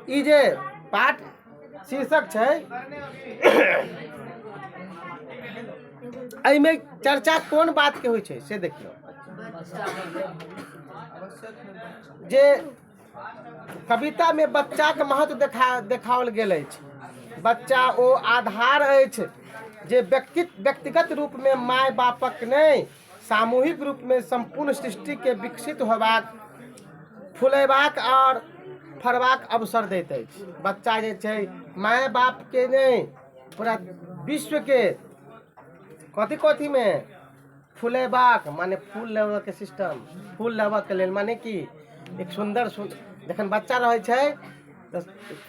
ई जे पाठ शीर्षक छै एहिमे चर्चा कोन बात के होइ छै से देखियौ जे कविता मे बच्चा के महत्व देखा देखाओल गेल अछि बच्चा ओ आधार अछि जे व्यक्ति व्यक्तिगत रूप मे माय बापक नहि सामूहिक रूपमे सम्पूर्ण सृष्टिके विकसित होयबाक फुलयबाक आओर फड़बाक अवसर दैत अछि बच्चा जे छै माय बापके नहि पूरा विश्वके कथी कथीमे फुलयबाक मने फूल लेबयके सिस्टम फूल लेबयके लेल मने की एक सुन्दर सु जखन बच्चा रहै छै तऽ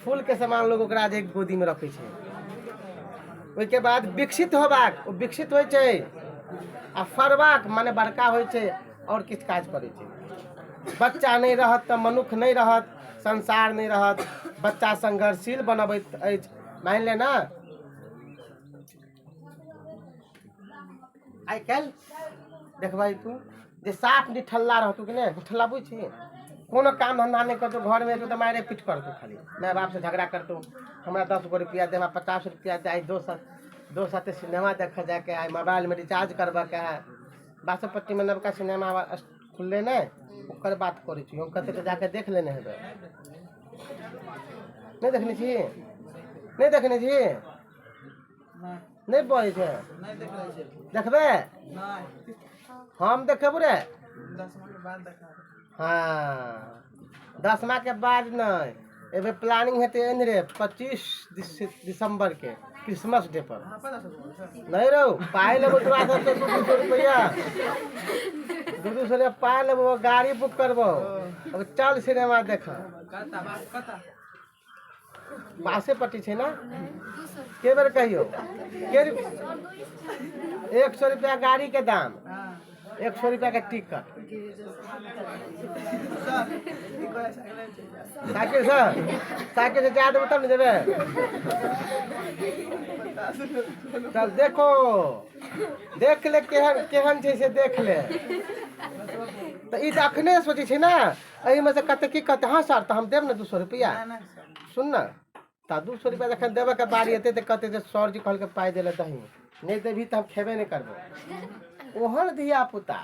फूलके समान लोक ओकरा जे गोदीमे रखै छै ओहिके बाद विकसित होयबाक ओ विकसित होइ छै आ फड़बाक मने बड़का होइ छै आओर किछु काज करै छै बच्चा नहि रहत तऽ मनुख नहि रहत संसार नहि रहत बच्चा संघर्षशील बनबैत अछि मानि ले ने आइ काल्हि देखबै तू जे साफ निठल्ला रहतू कि नहि निठल्ला बुझ छी कोनो काम धंधा नहि करतू घरमे एतू तऽ मारे पीट करतू खाली माय बापसँ झगड़ा करतू हमरा दस गो रुपया दे हमरा पचास रुपया दे आइ दोस्त दोस्त साथे सिनेमा देखऽ जायके है मोबाइलमे रिचार्ज करबऽके है बासोपट्टीमे नवका सिनेमा खुललै ने ओकर बात करै छी हम कतऽ जाके देख लेने हेबै नहि देखने छी नहि देखने छी नहि बहै छै देखबै हम देखेबू रे हँ दसमाके बाद नहि एहिबेर प्लानिंग हेतै एहन रे पच्चीस दिस- दिसम्बरके क्रिसमस डे पर नहि रहू पाइ लेबो तोरा सबके दू दू सौ रुपैआ दू दू सौ रुपैआ पाइ लेबो गाड़ी बुक करबो अब चल सिनेमा देखऽ बासे पट्टी छै ना के बेर कहियो के एक सौ रुपया गाड़ी के दाम एक सौ रुपया के टिकट साइकिल से साइकिल से जाए देबो तब ने जेबे तब देखो देख ले केहन केहन छै से देख ले तऽ ई तऽ अखने सोचै छै ने एहिमे से कते की कहते हँ सर तऽ हम देब ने दू सए रुपैआ सुन ने तऽ दू सए रुपैआ जखन देबऽके बारी एतै तऽ कहतै जे सर जी कहलकै पाइ दै लए दही नहि देबही तऽ हम खेबे नहि करबो ओहन धियापुता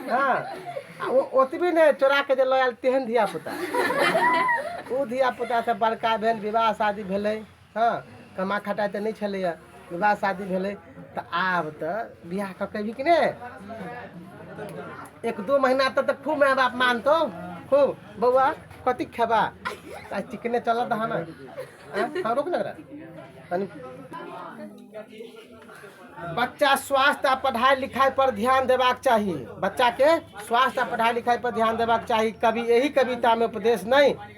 हँ आ ओ ओतबी नहि चोराके जे लऽ आयल तेहन धियापुता ओ धियापुतासँ बड़का भेल विवाह शादी भेलै हँ कमा खटाइ तऽ नहि छलैए विवाह शादी भेलै तऽ आब तऽ बियाह कऽ के एबही कि नहि एक दू महीना तक तऽ खूब माय बाप मानतौ खूब बौआ कथी खेबा आ चिकने चलत हन आँय? हँ रोक ने एकरा। तनी बच्चा स्वास्थ्य आ पढ़ाई लिखाई पर ध्यान देबाक चाही बच्चा के स्वास्थ्य आ पढ़ाई लिखाई पर ध्यान देबाक चाही कभी यही कविता में उपदेश नहीं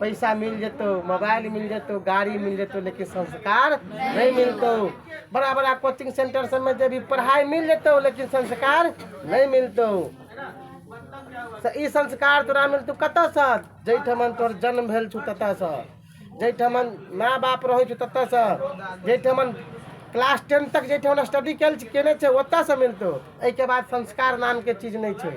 पैसा मिल जेतौ मोबाइल मिल जेतौ गाड़ी मिल जेतौ लेकिन संस्कार नहीं मिलतौ बड़ा बड़ा कोचिंग सेंटर सब में जब पढ़ाई मिल जेतौ लेकिन संस्कार नहीं मिलतौ से ई संस्कार तोरा मिलतौ कतऽसँ जाहिठामन तोहर जन्म भेल छौ ततऽसँ जाहिठामन माँ बाप रहै छौ ततऽसँ जाहिठामन क्लास टेन तक जाहिठामन स्टडी केल केने छै ओतऽसँ मिलतौ एहिके बाद संस्कार नामके चीज नहि छै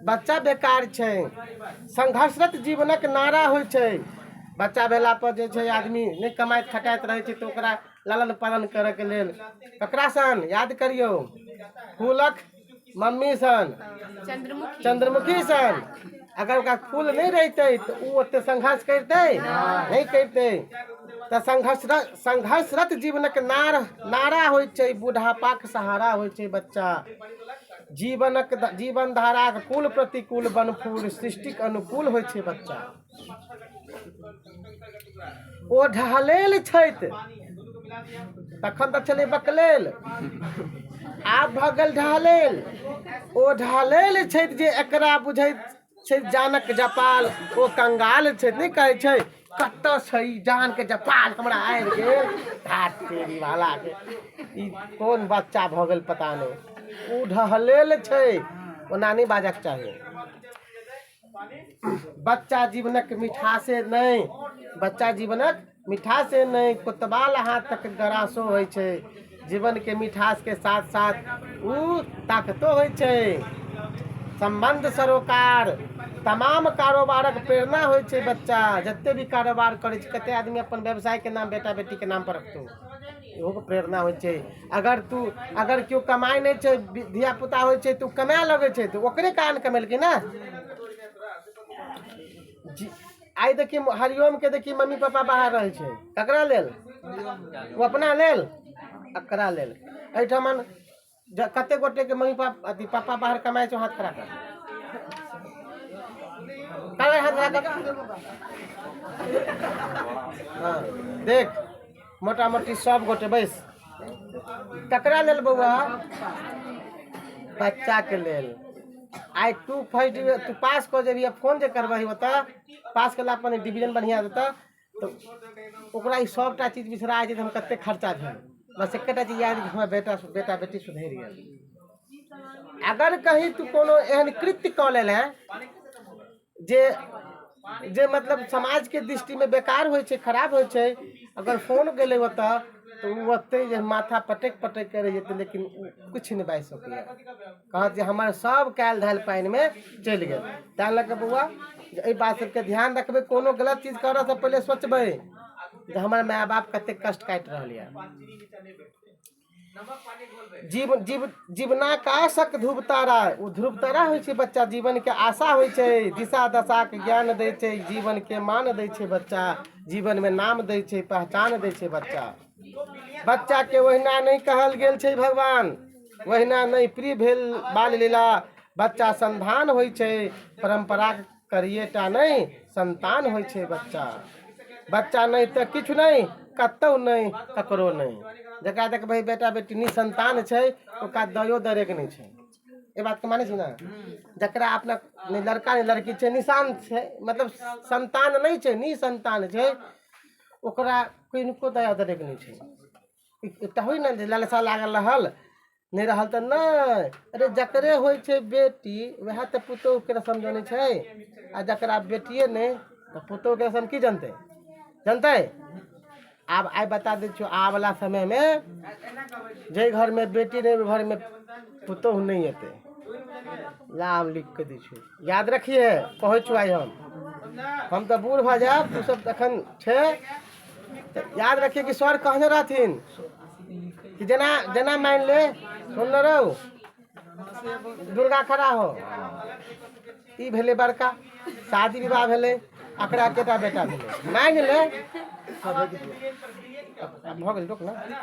बच्चा बेकार छै संघर्षरत जीवनक नारा होइ छै बच्चा भेला पर जे छै आदमी नहि कमाइत खटाइत रहै छै तऽ ओकरा लालन पालन करयके लेल ककरा सन याद करियौ फूलक मम्मी सन चंद्रमुखी चंद्रमुखी सन अगर ओकरा फूल नहि रहितै तऽ ओ ओते संघर्ष करितै नहि करितै तऽ संघर्ष संघर्षरत जीवनक नार नारा होइ छै बुढ़ापाक सहारा होइ छै बच्चा जीवनक जीवन धाराक कुल प्रतिकूल बनफूल सृष्टिक अनुकूल होइ छै बच्चा ओ ढहलेल छथि तखन तऽ छलै बकलेल आब भऽ गेल ढहलेल ओ ढहलेल छथि जे एकरा बुझैत छै जानक जपाल ओ कंगाल छै नहि कहै छै कतऽ छै ई जान के जपाल हमरा आबि गेल धात तेरी वाला के ई कोन बच्चा भऽ गेल पता नहि ओ ढहलेल छै ओना नहि बाजक चाही बच्चा जीवनक मिठासे नहि बच्चा जीवनक मिठासे नहि कोतवाल अहाँ तक गरासो होइ छै जीवनके मिठासके साथ साथ ओ ताकतो होइ छै सम्बन्ध सरोकार तमाम कारोबारक प्रेरणा होइ छै बच्चा जते भी कारोबार करै छै कते आदमी अपन व्यवसायके नाम बेटा बेटीके नाम पर रखतौ इहोके प्रेरणा होइ छै अगर तू अगर केओ कमाइ नहि छै धियापुता होइ छै तऽ ओ कमाए लगै छै तऽ ओकरे कारण कमेलकै ने जी आइ देखी हरिओमके देखी मम्मी पापा बाहर रहै छै ककरा लेल ओ अपना लेल एकरा लेल एहिठाम कतेक गोटेके मम्मी पापा अथी पापा बाहर कमाइ छै हाथ खड़ा कर हाथ खड़ा कर हँ देख मोटा मोटी सब गोटे बैस ककरा लेल बौआ बच्चा के लेल आइ तू फर्स्ट डिवीजन तू पास कऽ जेबही आ फोन जे करबही ओतऽ पास केला पर डिवीजन बढ़िआँ देतऽ तऽ ओकरा ई सभटा चीज बिसरा जाइ छै जे हम कतेक खर्चा भेल बस एकेटा चीज याद कि हमरा बेटा बेटा बेटी सुधरि गेल अगर कहीं तू कोनो एहन कृत्य कऽ लेले जे जे मतलब समाजके दृष्टिमे बेकार होइ छै खराब होइ छै अगर फोन गेलै ओतऽ तऽ ओ ओतै जे माथा पटकि पटकि कऽ रहि जेतै लेकिन ओ किछु नहि बाजि सकैए कहत जे हमर सब कएल धएल पानिमे चलि गेल ताहि लऽ कऽ बौआ जे एहि बात सबके धिआन रखबै कोनो गलत चीज करऽसँ पहिले सोचबै जे हमर माइ बाप कतेक कष्ट काटि रहल अइ जीव जीव जीवनाकाशक ध्रुव तारा ओ ध्रुव तारा होइ छै बच्चा जीवनके आशा होइ छै दिशा दशाके ज्ञान दै छै जीवनके मान दै छै बच्चा जीवनमे नाम दै छै पहचान दै छै बच्चा बच्चाके ओहिना नहि कहल गेल छै भगवान ओहिना नहि प्रिय भेल बाल लीला बच्चा संधान होइ छै परम्पराके करिए टा नहि संतान होइ छै बच्चा बच्चा नहि तऽ किछु नहि कतहु नहि ककरो नहि जकरा देखबै बेटा बेटी निसंतान छै ओकरा दयो दरेक नहि छै एहि बातके मानै छी ने जकरा अपना नहि लड़का नहि लड़की छै निशान छै मतलब संतान नहि छै निसंतान छै ओकरा किनको दया दरेक नहि छै एकटा होइ ने जे लालसा लागल रहल नहि रहल तऽ नहि अरे जकरे होइ छै बेटी वएह तऽ पुतोहूके रसम जनै छै आ जकरा बेटिए नहि तऽ पुतोहूके रसम की जनतै जनतै आब आइ बता दै छियौ आबला समयमे जाहि घरमे बेटी नहि ओहि घरमे पुतोहू नहि एतै ला हम लिख कऽ दै छियौ याद रखिहे कहै छियौ आइ हम हम तऽ बूढ़ भऽ जायब तू सब तखन छै याद रखिए कि सर कहने रहथिन कि जेना जेना मानि ले सुनने रहू दुर्गा खड़ा हो ई भेलै बड़का शादी विवाह भेलै एकरा एकेटा बेटा भेलै मानि ले भऽ गेल रोक ने